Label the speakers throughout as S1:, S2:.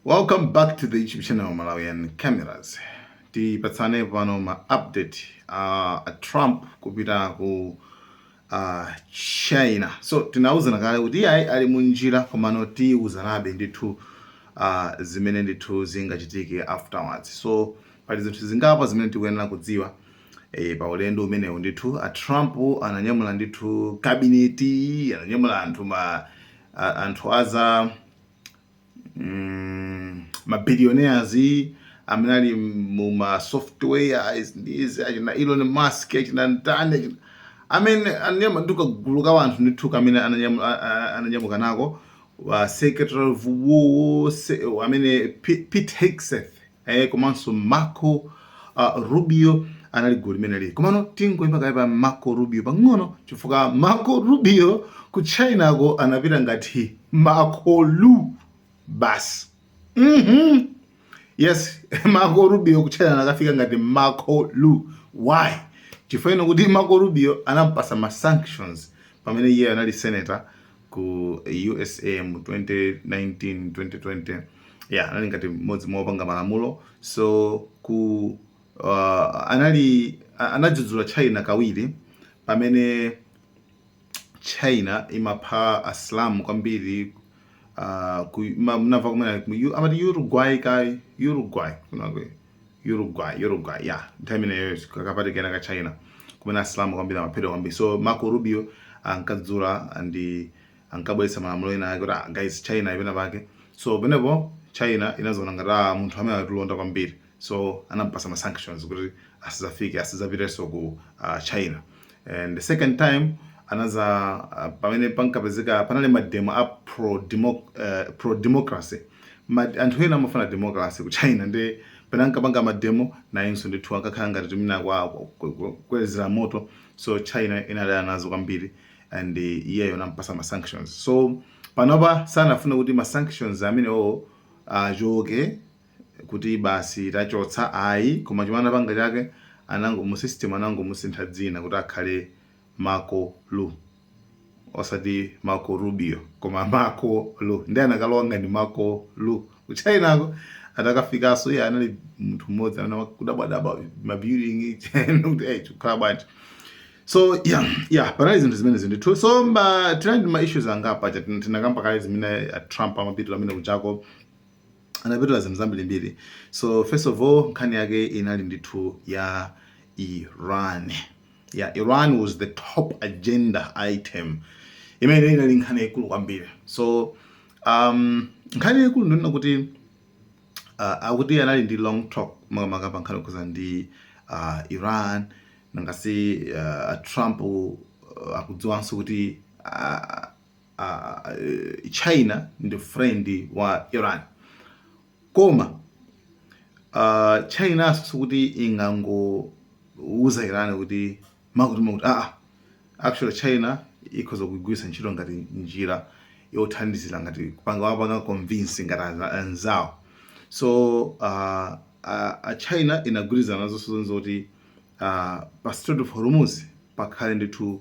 S1: Welcome back to the YouTube channel Malawian Cameras. Tipatsane pano ma update uh, a Trump kupita ku uh, China. So tinauzana kale kuti ayi ali munjira komano tiuzanabe ndithu uh, zimene ndithu zingachitike afterwards. So pali zinthu zingapo zimene tikuyenera kudziwa e, pa ulendo umenewu ndithu a Trump ananyamula ndithu kabineti ananyamula anthu ma a- anthu aza mm, mabilionaires amene ali mu ma software izi ndi izi achina elon musk achina ndani achina- amene ananyama ndi kagulu ka wanthu ndithu kamene ananyamu- a- a- ananyamuka nako a secretary of war se- amene P- pete hegseth eh, komanso Marco uh, Rubio anali gulu limeneli komano tingoyima kaye pa Marco Rubio pang'ono chifukwa Marco Rubio ku China ko anapita ngati Marco Lu basi mm -hmm. yes Marco Rubio ku China anakafika ngati Marco Lu why chifukwa kuti Marco Rubio anampasa ma sanctions pamene iye anali senator ku usa mu 2019 2020 yeah anali ngati mmodzi mwa opanga malamulo so ku uh, anali a- anadzudzula china kawiri pamene china imapha asilamu kwambiri uh, ku, ma- munamva kumene ku- amati uruguay kai uruguay kunakwe uruguay uruguay ya nthawi imeneyo kakapati kena ka china kumene asilamu kwambiri amaphedwa kwambiri so marco rubio ankadzula and ankabweretsa malamulo ena ake kuti "Ah, guys china ipena pake so penepo china inaziona ngati "Ah, munthu amene akutilonda kwambiri so anampasa ma sanctions kuti asizafike asizapitenso ku ah, china and the second time anaza uh, pamene pankapezeka panali mademo a pro, demo, uh, pro democracy Mad, anthu ena amafuna democracy ku china ndiye pena ankapanga mademo nayenso ndithu ankakhala ngati timina kwa kwezera moto so china inadana nazo kwambiri and iyeyo anampasa ma sanctions so panopa sanafuna kuti ma sanctions amenewo achoke kuti basi tachotsa ayi koma chomwe anapanga chake anango mu system anangomusintha dzina kuti akhale Marco Lu osati Marco Rubio koma Marco Lu ndiye anakalowa ngati Marco Lu ku China ko atakafikaso iye anali munthu mmodzi amene akudabwadabwa ma building kuti eh chikhala bwanji so yeah yeah panali zinthu zimenezi ndithu so mba tinali ndi ma issues angapo tinakamba kale zimene a Trump amapitira amene ku China ko anapitira zinthu zambirimbiri so first of all nkhani yake inali ndithu ya iran yeah, iran was the top agenda item imene inali nkhani yaikulu kwambiri so um, nkhani yaikulu ndinena kuti uh, akuti anali ndi long talk makamaka pa nkhani yokhuzana ndi uh, iran nangasi uh, trump uh, akudziwanso kuti uh, china ndi friend wa Iran koma chinaso sikuti ingangouza Iran kuti mwakuti mwakuti aa actually china ikhoza kuigwiritsa ntchito ngati njira yothandizira ngati kupanga kuwapanga convince ngati anzawo so uh, uh, china inagwirizana nazo sonse zoti uh, pa Strait of Hormuz pakhale ndithu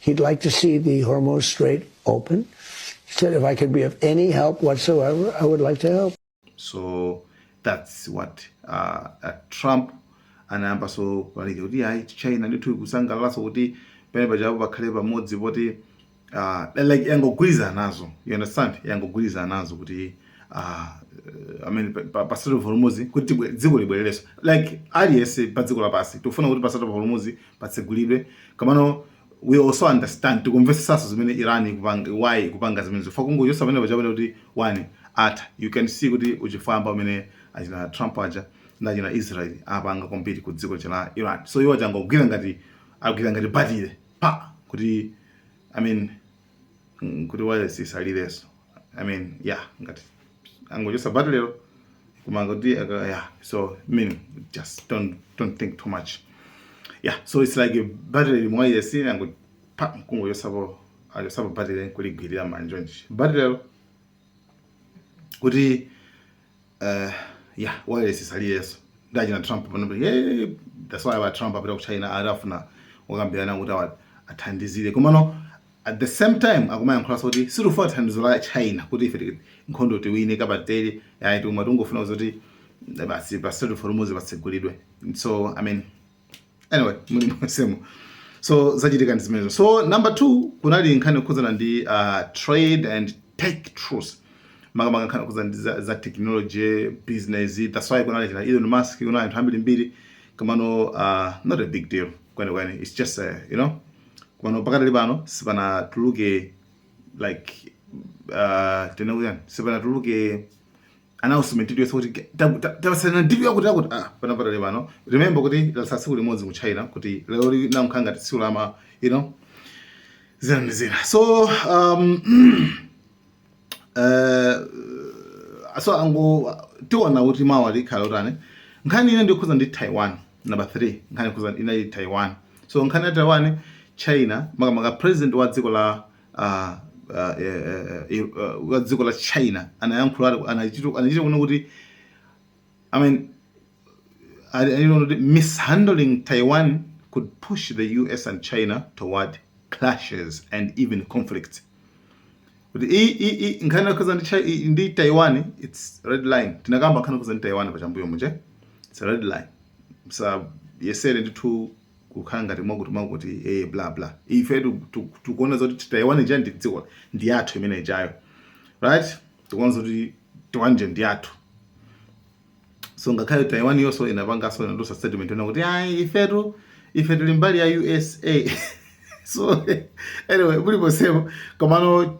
S2: He'd like to see the Hormuz Strait open. He said, if I could be of any help whatsoever, I would like to help. So
S1: that's what uh, uh, Trump anayambaso kulalika kuti ayi china ndithu ikusangalalaso kuti pamene pajapo pakhale pamodzi poti uh, like yangogwirizana nazo you understand yangogwirizana nazo kuti uh, I mean, pa Strait of Hormuz kuti dziko libwerereso like aliyense pa dziko lapansi tikufuna kuti pa Strait of Hormuz patsegulidwe komano we also understand tikumvesesaso zimene Iran ikupanga why ikupanga zimene zifukwa kungochotsa pamene pajapo kuti one atha you can see kuti uchifwamba umene achina Trump aja ndi achina Israel apanga kwambiri ku dziko la Iran so iwo angogwira ngati agwira ngati batire pa kuti I mean mm, kuti wireless isalireso i mean yeah ngati angochotsa batilero koma kuti yeah so i mean just don't don't think too much yeah so it's like battery limo wireless nanga pa kungochotsapo achotsapo battery nkuligwirira m'manja batilero kuti uh, ya wireless isalireso ndi achina trump panopa hey, that's why a ba trump apita ku china atafuna akakambirane kuti awa athandizire komano at the same time akumayankhulaso kuti sitifuna thandizo la china kuti ife tiki- nkhondo tiwine kapena ayi tikuma tingofuna kuti basi pa Strait of Hormuz patsegulidwe so i mean anyway muli monsemo so zachitika ndi zimenezo so number two kunali nkhani yokhudzana ndi uh, trade and tech truce makamaka nkhani yokhudzana ndi za, za technology business that's why kunali china elon musk kunali anthu ambirimbiri komano uh, not a big deal kwenekwene it's just uh, you know kumano pakadali pano sipanatuluke like uh, tinene kuti chani sipanatuluke announcement ndiyo kuti tapatsana ndiye yakuti yakuti ah pana pakali pano remember kuti latsala tsiku limodzi ku China kuti lero li na mkhanga tsiku lamawa you know zina ndi zina so um uh, so tingoona kuti mawa likhala lotani nkhani ina ndi yokhudza ndi Taiwan number 3 nkhani yokhudza inali Taiwan so nkhani ya Taiwan China makamaka president wa dziko la a a- e- e- e- e- wa dziko la china anayankhula ati- anachita anachita kunena kuti i mean I, I don't know, mishandling Taiwan could push the US and China toward clashes and even conflict. But i, i, i, nkhani yokhudza ndi, Chi- i- ndi Taiwan, it's red line. Tinakamba nkhani yokhudza ndi Taiwan pachambuyo muja. It's a red line. Musayesere ndithu kukhala ngati mwakuti mwakuti eh blah blah ife tikunena zoti Taiwan ija ndi dziko ndi yathu imene ijayo right tikunena zoti Taiwan ija ndi yathu so ngakhale Taiwan yonso inapanganso inatulutsa statement kunena kuti ayi ifetu ife tili mbali ya USA so anyway zilipo choncho komano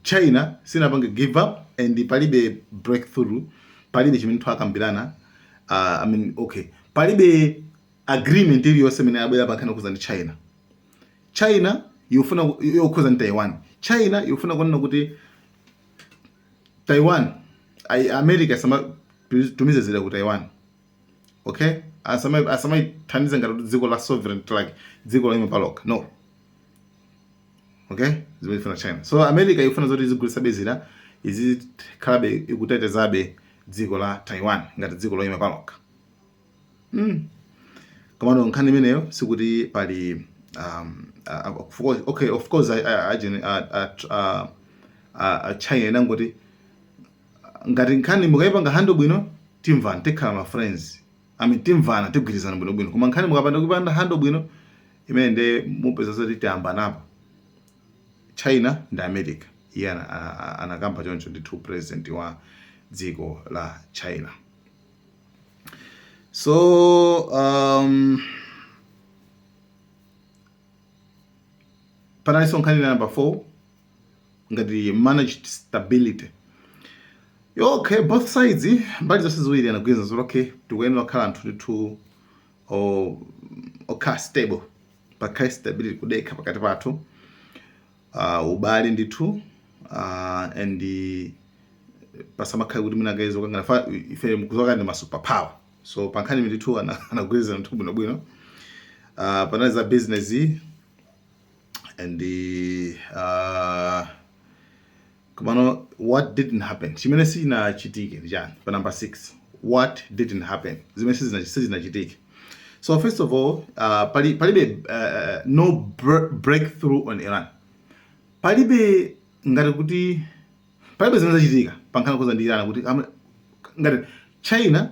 S1: China sinapange give up and palibe breakthrough palibe chimene twakambirana uh, I mean okay palibe agreement iliyonse imene yabwera pankhani yokhudza ndi China. China ikufuna ku- yokhudza ndi Taiwan. China ikufuna kunena kuti Taiwan ai- America asamatumize zida ku Taiwan. Okay? Asama asamayithandize ngati kuti dziko la sovereign like, dziko loyima palokha. No. Okay? Zimene ikufuna China. So America ikufuna zoti izigulitsabe zida izikhalabe ikulitetezabe dziko la Taiwan ngati dziko loyima palokha. mm. komano nkhani imeneyo sikuti pali um, uh, of course, okay of course I, I, I, gen- uh, uh, tr- uh, uh, uh, china inangoti ngati nkhani mukayipanga handle bwino timvana tikhala ma friends i mean timvana tigwirizana bwino bwino koma nkhani mukapanda kupanga handle bwino imene nde mupeza zoti tiyambana apo china ndi america iye ana- a- a- anakamba choncho ndithu president wa dziko la china so um, panalinso nkhani number 4 ngati managed stability okay both sides mbali zonse ziwiri anagwirizana zoti okay tikuyenera kukhala anthu ndithu o- okhala stable pakhale stability kudekha pakati pathu uh, ubale ndithu uh, and pasamakhale kuti mwina guys tikangana paja ife nkudzakhala ndi ma superpower so pankhani ndithu anagwirizana ndithu bwinobwino uh, panali za business and uh, Komano what didn't happen? Chimene sichinachitike ndi chani pa number 6? What didn't happen? Zimene sizina sizinachitike. So first of all, uh, pali palibe uh, no br breakthrough on Iran. Palibe ngati kuti palibe zimene zachitika pankhani yokhudza ndi Iran kuti ngati China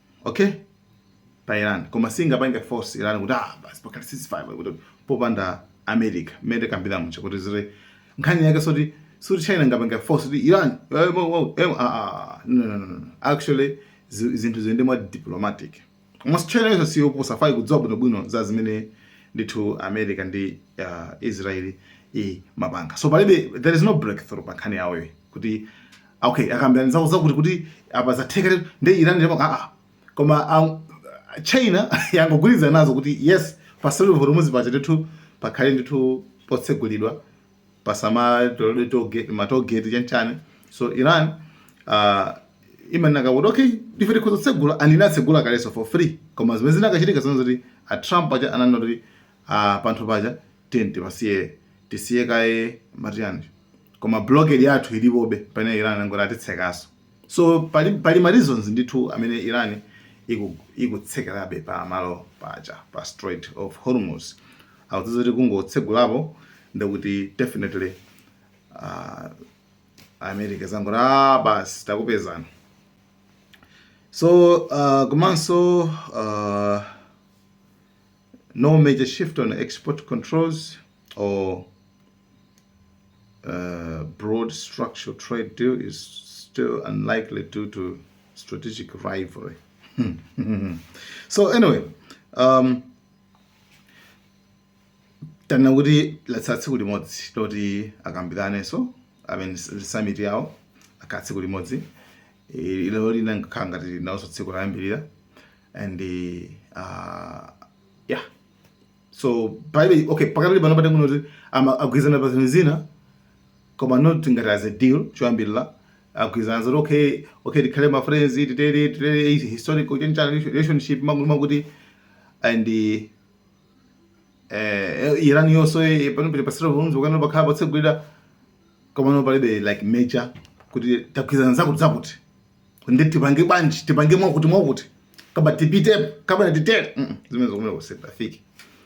S1: okay pa Iran koma singapange force Iran kuti ah basi pakali ceasefire kuti popanda America mmene ndakambira muja kuti ziri nkhani yake soti soti China ngapange force kuti Iran eh, eh, ah, ah, no, no, no. actually zinthu ziyende mwa diplomatic almost China yonse siyopusa ayi ikudziwa bwino bwino za zimene ndithu America ndi uh, Israel imapanga so palibe there is no breakthrough pa nkhani yawo kuti okay akambirana zawo zakuti kuti apa zatheka lero ndi iran ndipo aa koma ang- china yangogwirizana nazo kuti yes pa Strait of Hormuz paja ndithu pakhale ndithu potsegulidwa pasamatolere toge- matogeti chanchani so iran uh, imanena kuti okay ife tikhoza kutsegula and inatsegula kaleso for free koma zimene zinakachitika zinali zoti a trump paja ananena kuti uh, anthu paja tiyeni tiwasiye tisiye kaye ma chani koma blockade yathu ilipobe pamene iran angoti atitsekaso so pali pali ma reasons ndithu amene iran iku ikutsekerabe pa malo paja pa strait of hormuz akuti zoti kungotsegulapo ndikuti definitely uh, america izangoti ah basi takupezanso so uh, komanso uh, no major shift on export controls or uh, broad structural trade deal is still unlikely due to strategic rivalry. so anyway, um, tinanena kuti latsala tsiku limodzi loti akambiranenso amene summit yawo akhala tsiku limodzi ilo linakhala ngati nawonso tsiku loyambirira and the uh, yeah so palibe okay pakati pano pangoti agwirizana pa zinthu zina koma not ngati as a deal choyambirira agwirizana zoti okay okay tikhale ma friends titere titere historical chanichani relationship magulu makuti and eh, eh Iran yonso eh, pano pali pasira vunzi ukana pakhala patsegulira koma no palibe like major kuti tagwirizana zakuti zakuti ndi tipange bwanji tipange mwakuti mwakuti kaba tipite poka panatitere mm -mm. zimene zokumene kusipafiki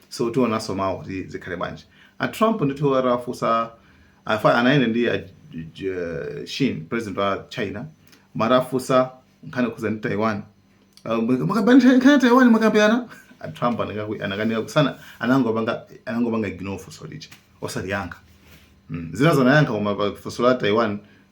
S1: so tionanso mawu kuti zikhale bwanji a trump ndithu atafunsa ataonana ndi a J- shin president wa china atafunsa nkhani yokhudza ndi taiwan makabankhani taiwan makambirana a trump anakaku- anakanika kusana anangopanga anangopanga ignore funso lija osaliyankha Mm. zina anayankha koma pa funso la taiwan